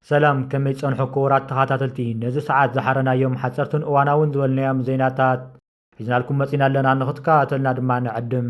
ሰላም ከመይ ጸንሑ ክቡራት ተኸታተልቲ ነዚ ሰዓት ዝሓረናዮም ሓጸርትን እዋናውን ዝበልናዮም ዜናታት ሒዝናልኩም መጺና ኣለና ንኽትከታተልና ድማ ንዕድም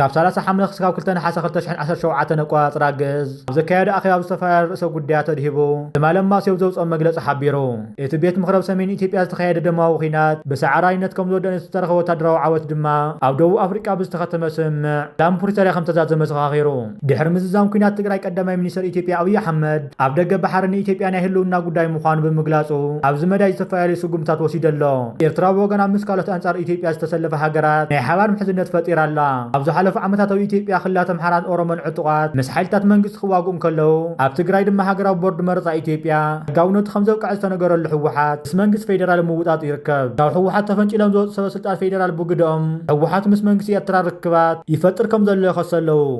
ካብ ሰላሳ ሓምለ ክስካብ ክልተ ነሓሰ ክልተ ሽሕን ዓሰርተ ሸውዓተን ኣቆፃፅራ ግእዝ ኣብ ዘካየዶ ኣኼባ ኣብ ዝተፈላለዩ ርእሰ ጉዳያት ኣድሂቡ ትማሊ ማስዮ ኣብ ዘውፅኦ መግለፂ ሓቢሩ። እቲ ቤት ምኽሪ ኣብ ሰሜን ኢትዮጵያ ዝተኻየደ ደማዊ ኲናት ብሰዓራይነት ከምዝወደእን እቲ ዝተረኸበ ወታደራዊ ዓወት ድማ ኣብ ደቡብ ኣፍሪቃ ብዝተኸተመ ስምምዕ ሰላም ፕሪቶርያ ከምተዛዘመ ዘኻኺሩ። ድሕሪ ምዝዛም ኲናት ትግራይ ቀዳማይ ሚኒስተር ኢትዮጵያ ኣብይ ኣሕመድ፣ ኣብ ደገ ባሕሪ ንኢትዮጵያ ናይ ህልውና ጉዳይ ምዃኑ ብምግላጹ ኣብዚ መዳይ ዝተፈላለዩ ስጉምትታት ወሲዱ ኣሎ። ኤርትራ ብወገና ምስ ካልኦት ኣንጻር ኢትዮጵያ ዝተሰለፋ ሃገራት ናይ ሓባር ምሕዝነት ፈጢራ ኣላ። ኣብ ዝሓለፉ ዓመታት ኣብ ኢትዮጵያ ክልላት ኣምሓራን ኦሮሞን ዕጡቓት ምስ ሓይልታት መንግስቲ ክዋግኡ እንከለዉ፣ ኣብ ትግራይ ድማ ሃገራዊ ቦርድ መረጻ ኢትዮጵያ ሕጋውነቱ ከምዘብቀዐ ዝተነገረሉ ህወሓት ምስ መንግስቲ ፌደራል ኣብ ምውጣጡ ይርከብ። ካብ ህወሓት ተፈንጪሎም ዝወጹ ሰበስልጣን ፌደራል ብግደኦም፣ ህወሓት ምስ መንግስቲ ኤርትራ ርክባት ይፈጥር ከምዘሎ ይኸሱ ኣለዉ።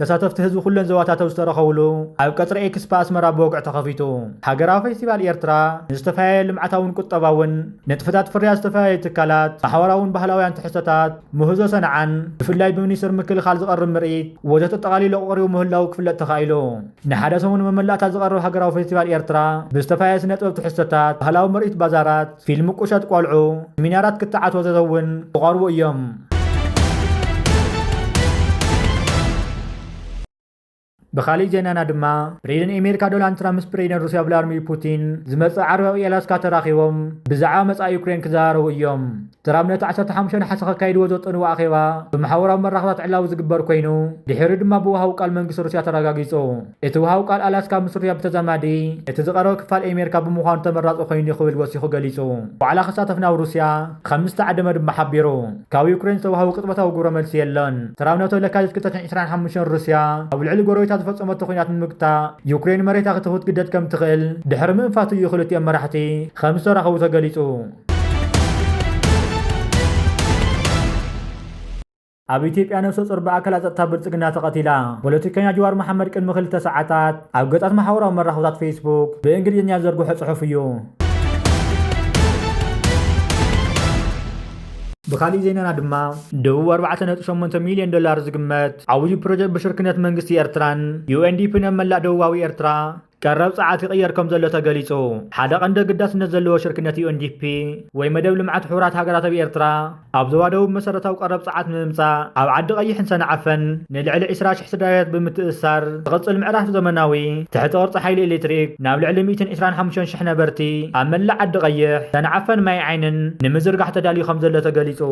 ተሳተፍቲ ህዝቢ ኩለን ዞባታት ኣብ ዝተረኸብሉ ኣብ ቀጽሪ ኤክስፓ ኣስመራ ብወግዒ ተኸፊቱ። ሃገራዊ ፌስቲቫል ኤርትራ ንዝተፈላለየ ልምዓታውን ቁጠባውን ንጥፈታት ፍርያት ዝተፈላለዩ ትካላት፣ ማሕበራውን ባህላውያን ትሕዝቶታት፣ ምህዞ ሰንዓን ብፍላይ ብሚኒስትሪ ምክልኻል ዝቐርብ ምርኢት ወዘተ ኣጠቓሊሉ ኣቐሪቡ ምህላዉ ክፍለጥ ተኻኢሉ። ንሓደ ሰሙን መመላእታ ዝቐርብ ሃገራዊ ፌስቲቫል ኤርትራ ብዝተፈላለየ ስነጥበብ ትሕዝቶታት፣ ባህላዊ ምርኢት ባዛራት፣ ፊልም ቁሸት ቆልዑ ሚናራት ክትዓት ወዘተ እውን ክቐርቡ እዮም። ብኻሊእ ዜናና ድማ ፕሬዚደንት ኣሜሪካ ዶናልድ ትራምፕ ምስ ፕሬዚደንት ሩስያ ቭላድሚር ፑቲን ዝመፅእ ዓርቢ ኣብ ኤላስካ ተራኺቦም ብዛዕባ መፃኢ ዩክሬን ክዘራረቡ እዮም ትራምፕ ነቲ 15 ነሓሰ ከካይድዎ ዘጠንዎ ኣኼባ ብማሕበራዊ መራኽባት ዕላዊ ዝግበር ኮይኑ ድሒሩ ድማ ብውሃዊ ቃል መንግስቲ ሩስያ ተረጋጊፁ እቲ ውሃዊ ቃል ኣላስካ ምስ ሩስያ ብተዛማዲ እቲ ዝቐረበ ክፋል ኤሜርካ ብምዃኑ ተመራጺ ኮይኑ እዩ ክብል ወሲኹ ገሊጹ። ዋዕላ ክሳተፍ ናብ ሩስያ ከም ዝተዓደመ ድማ ሓቢሩ። ካብ ዩክሬን ዝተዋህበ ቅጽበታዊ ግብረ መልሲ የለን። ሰራብ ነቶ ለካቲት ክልተሽሕን ዕስራን ሓሙሽተን ሩስያ ኣብ ልዕሊ ጎረቤታ ዝፈጸመቶ ኲናት ንምግታእ ዩክሬን መሬታ ክት ክትግደድ ከም ትኽእል ድሕሪ ምእንፋቱ እዩ ክልቲኦም መራሕቲ ከም ዝተራኸቡ ተገሊጹ። ኣብ ኢትዮጵያ ነብሰ-ጾር ብኣካላት ጸጥታ ብልጽግና ተቐቲላ። ፖለቲከኛ ጅዋር መሓመድ ቅድሚ ክልተ ሰዓታት ኣብ ገጻት ማሕበራዊ መራኸብታት ፌስቡክ ብእንግሊዝኛ ዝዘርግሖ ጽሑፍ እዩ። ብኻሊእ ዜናና ድማ ደቡብ ኣርባዕተ ነጥቢ ሸሞንተ ሚልዮን ዶላር ዝግመት ዓውዲ ፕሮጀክት ብሽርክነት መንግስቲ ኤርትራን ዩኤንዲፒን ኣብ መላእ ደቡባዊ ኤርትራ ቀረብ ጸዓት ይቕየር ከም ዘሎ ተገሊጹ። ሓደ ቀንዲ ኣገዳስነት ዘለዎ ሽርክነት ዩኤንዲፒ ወይ መደብ ልምዓት ሕቡራት ሃገራት ኣብ ኤርትራ ኣብ ዞባ ደቡብ መሰረታዊ ቀረብ ጸዓት ንምምጻእ ኣብ ዓዲ ቐይሕን ሰንዓፈን ንልዕሊ ዕስራ ሽሕ ስድራቤታት ብምትእስሳር ዝቕጽል ምዕራፍ ዘመናዊ ትሕተ ቅርጺ ሓይሊ ኤሌክትሪክ ናብ ልዕሊ ሚእትን ዕስራን ሓሙሽተን ሽሕ ነበርቲ ኣብ መላእ ዓዲ ቐይሕ፣ ሰንዓፈን ማይ ዓይንን ንምዝርጋሕ ተዳልዩ ከም ዘሎ ተገሊጹ።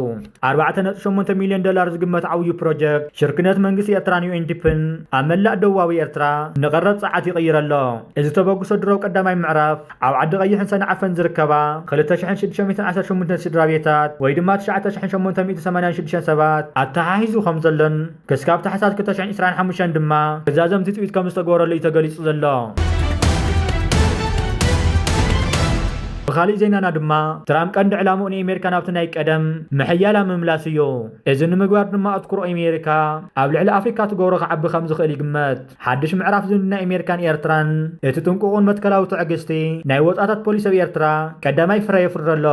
ኣርባዕተ ነጥቢ ሸሞንተ ሚልዮን ዶላር ዝግመት ዓውዩ ፕሮጀክት ሽርክነት መንግስቲ ኤርትራን ዩኤንዲፕን ኣብ መላእ ደቡባዊ ኤርትራ ንቐረብ ጸዓት ይቕይር ኣሎ። እዚ ተበግሶ ድሮ ቀዳማይ ምዕራፍ ኣብ ዓዲ ቐይሕን ሰንዓፈን ዝርከባ ክልተ ሽሕን ሽዱሽተ ሚእትን ዓሰርተ ሸሞንተን ስድራቤታት ወይ ድማ ትሽዓተ ሽሕን ሸሞንተ ሚእትን ሰማንያን ሽዱሽተን ሰባት ኣተሓሒዙ ከምዘሎን ክስካብ ታሕሳስ ክልተ ሽሕን ዕስራን ሓሙሽተን ድማ ክዛዘም ትፅቢት ከም ዝተገበረሉ እዩ ተገሊፁ ዘሎ። ብኻሊእ ዜናና ድማ ትራምፕ ቀንዲ ዕላምኡ ንኤሜሪካ ናብቲ ናይ ቀደም ምሕያላ ምምላስ እዩ። እዚ ንምግባር ድማ ኣትኩሮ ኤሜሪካ ኣብ ልዕሊ ኣፍሪካ ትገብሮ ክዓቢ ከም ዝኽእል ይግመት። ሓድሽ ምዕራፍ ዝምድና ኤሜሪካን ኤርትራን እቲ ጥንቁቕን መትከላዊ ትዕግስቲ ናይ ወፃእታት ፖሊሲ ኣብ ኤርትራ ቀዳማይ ፍረ የፍሪ ኣሎ።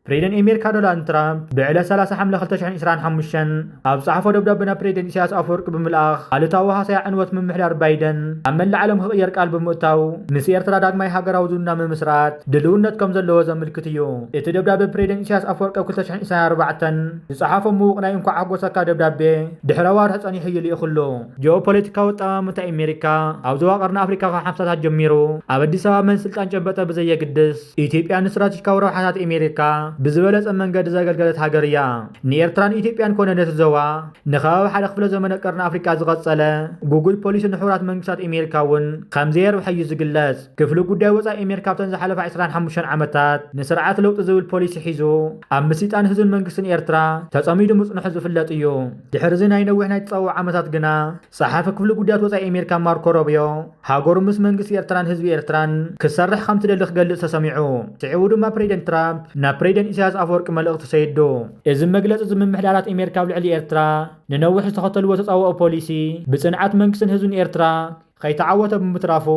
ፕሬደን ኤሜርካ ዶላንድ ትራምፕ ብዕለት ሰላሳ ሓምለ ክልተ ሽሕን ዒስራን ሓሙሽተን ኣብ ጸሓፎ ደብዳበ ናብ ፕሬደን ኢሳያስ ኣፈወርቂ ብምልኣኽ ኣሉታዊ ሃሰያ ዕንወት ምምሕዳር ባይደን ኣብ መላእ ዓለም ክቕየር ቃል ብምእታው ምስ ኤርትራ ዳግማይ ሃገራዊ ዝምድና ምምስራት ድልውነት ከም ዘለዎ ዘምልክት እዩ። እቲ ደብዳበ ፕሬደን ኢሳያስ ኣፈወርቂ ኣብ ክልተ ሽሕን ዒስራን ኣርባዕተን ዝጸሓፎ ምዉቕ ናይ እንኳዕ ኣሕጎሰካ ደብዳቤ ድሕሪ ኣዋርሕ ጸኒሑ እዩ ልኢኽሉ። ጂኦፖለቲካዊ ኣጠማምታ ኤሜሪካ ኣብ ዞባ ቀርኒ ኣፍሪካ ካብ ሓምሳታት ጀሚሩ ኣብ ኣዲስ ኣበባ መን ስልጣን ጨበጠ ብዘየግድስ፣ ኢትዮጵያ ንስትራቴጂካዊ ረብሓታት ኤሜሪካ ብዝበለጸ መንገዲ ዘገልገለት ሃገር እያ። ንኤርትራ ንኢትዮጵያን ኮነ ነቲ ዞባ ንከባቢ ሓደ ክፍለ ዘመነ ቀርኒ ኣፍሪቃ ዝቐጸለ ጉጉይ ፖሊሲ ንሕቡራት መንግስታት ኤሜሪካ እውን ከም ዘየርብሐ እዩ ዝግለጽ። ክፍሊ ጉዳይ ወጻኢ ኤሜሪካ ኣብተን ዝሓለፋ ዕስራን ሓሙሽተን ዓመታት ንስርዓት ለውጢ ዝብል ፖሊሲ ሒዙ ኣብ ምስይጣን ህዝብን መንግስትን ኤርትራ ተጸሚዱ ምጽንሑ ዝፍለጥ እዩ። ድሕሪ እዚ ናይ ነዊሕ ናይ ተጻብኦ ዓመታት ግና፣ ጸሓፊ ክፍሊ ጉዳያት ወጻኢ ኣሜሪካ ማርኮ ሮብዮ፣ ሃገሩ ምስ መንግስቲ ኤርትራን ህዝቢ ኤርትራን ክትሰርሕ ከም ትደሊ ክገልጽ ተሰሚዑ። ስዒቡ ድማ ፕሬዚደንት ትራምፕ ናብ ፕሬዚደንት ኢሳያስ ኣፈወርቂ መልእኽቲ ሰይዱ። እዚ መግለጺ እዚ ምምሕዳራት ኣሜሪካ ኣብ ልዕሊ ኤርትራ ንነዊሕ ዝተኸተልዎ ተጻብኦ ፖሊሲ ብጽንዓት መንግስትን ህዝብን ኤርትራ ከይተዓወተ ብምትራፉ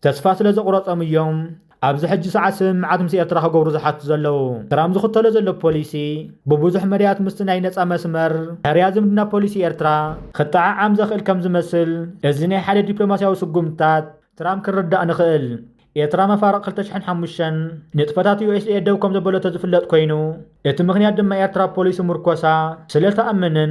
ተስፋ ስለዘቑረጾም እዮም። ኣብዚ ሕጂ ሰዓት ስምምዓት ምስ ኤርትራ ክገብሩ ዝሓቱ ዘለዉ ትራም ዝኽተሎ ዘሎ ፖሊሲ ብብዙሕ መዳያት ምስቲ ናይ ነጻ መስመር ሕርያ ዝምድና ፖሊሲ ኤርትራ ክጠዓዓም ዘኽእል ከም ዝመስል እዚ ናይ ሓደ ዲፕሎማስያዊ ስጉምትታት ትራም ክንርዳእ ንኽእል። ኤርትራ መፋርቕ ክልተ ሽሕን ሓሙሽተን ንጥፈታት ዩኤስኤ ደው ከም ዘበለቶ ዝፍለጥ ኮይኑ፣ እቲ ምኽንያት ድማ ኤርትራ ፖሊሲ ምርኮሳ ስለእተኣምንን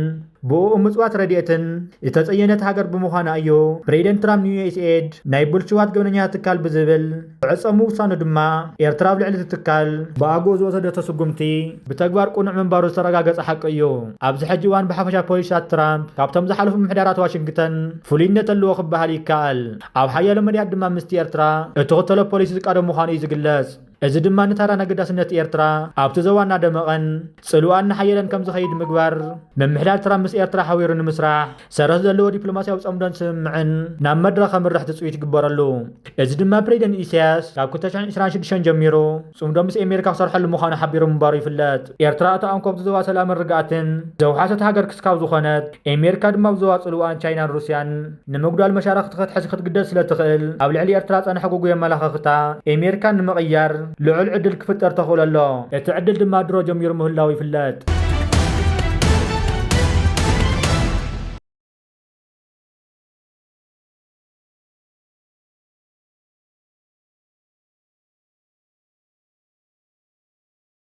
ብኡኡ ምጽዋት ረድኤትን ዝተጸየነት ሃገር ብምዃና እዩ። ፕሬዚደንት ትራምፕ ንዩኤስኤድ ናይ ብልሽዋት ገበነኛታት ትካል ብዝብል ክዕጸ ምውሳኑ ድማ ኤርትራ ኣብ ልዕሊ እቲ ትካል ብኣግኡ ዝወሰደቶ ስጉምቲ ብተግባር ቅኑዕ ምንባሩ ዝተረጋገጸ ሓቂ እዩ። ኣብዚ ሕጂ እዋን ብሓፈሻ ፖሊሲታት ትራምፕ ካብቶም ዝሓለፉ ምምሕዳራት ዋሽንግተን ፍሉይነት ኣለዎ ክበሃል ይከኣል። ኣብ ሓያሎ መዳያት ድማ ምስቲ ኤርትራ እትኽተሎ ፖሊሲ ዝቃዶ ምዃኑ እዩ ዝግለጽ። እዚ ድማ ንታራን ኣገዳስነት ኤርትራ ኣብቲ ዞባ እናደመቐን ጽልዋኣን እናሓየለን ከም ዝኸይድ ምግባር፣ ምምሕዳር ትራምፕ ምስ ኤርትራ ሓቢሩ ንምስራሕ ሰረት ዘለዎ ዲፕሎማስያዊ ጸምዶን ስምምዕን ናብ መድረኽ ከምርሕ ትጽቢት ይግበረሉ። እዚ ድማ ፕሬዚደንት ኢሳያስ ካብ ክልተ ሽሕን ዕስራን ሽዱሽተን ጀሚሩ ጽምዶ ምስ ኤሜሪካ ክሰርሐሉ ምዃኑ ሓቢሩ ምንባሩ ይፍለጥ። ኤርትራ እታ ኣንኮብቲ ዞባ ሰላምን ርግኣትን ዘውሓሰት ሃገር ክስካብ ዝኾነት፣ ኤሜሪካ ድማ ኣብ ዞባ ጽልዋን ቻይናን ሩስያን ንምጉዳል መሻርኽቲ ክትሕዝ ክትግደድ ስለ ትኽእል፣ ኣብ ልዕሊ ኤርትራ ጸንሐ ጉጉይ ኣመላኸኽታ ኤሜሪካ ንምቕያር ልዑል ዕድል ክፍጠር ተኽእሎ ኣሎ። እቲ ዕድል ድማ ድሮ ጀሚሩ ምህላዉ ይፍለጥ።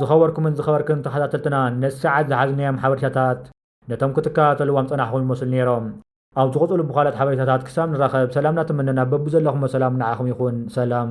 ዝኸበርኩምን ዝኸበርክን ተኸታተልትና ነቲ ሰዓት ዝሓዝናዮም ሓበሬታታት ነቶም ክትከታተልዎም ዝጸናሕኩም ይመስሉ ኔሮም። ኣብ ዝቕጽሉ ብኻልኦት ሓበሬታታት ክሳብ ንራኸብ ሰላም እናተመነና በብዘለኹሞ ሰላም ንዓኹም ይኹን። ሰላም።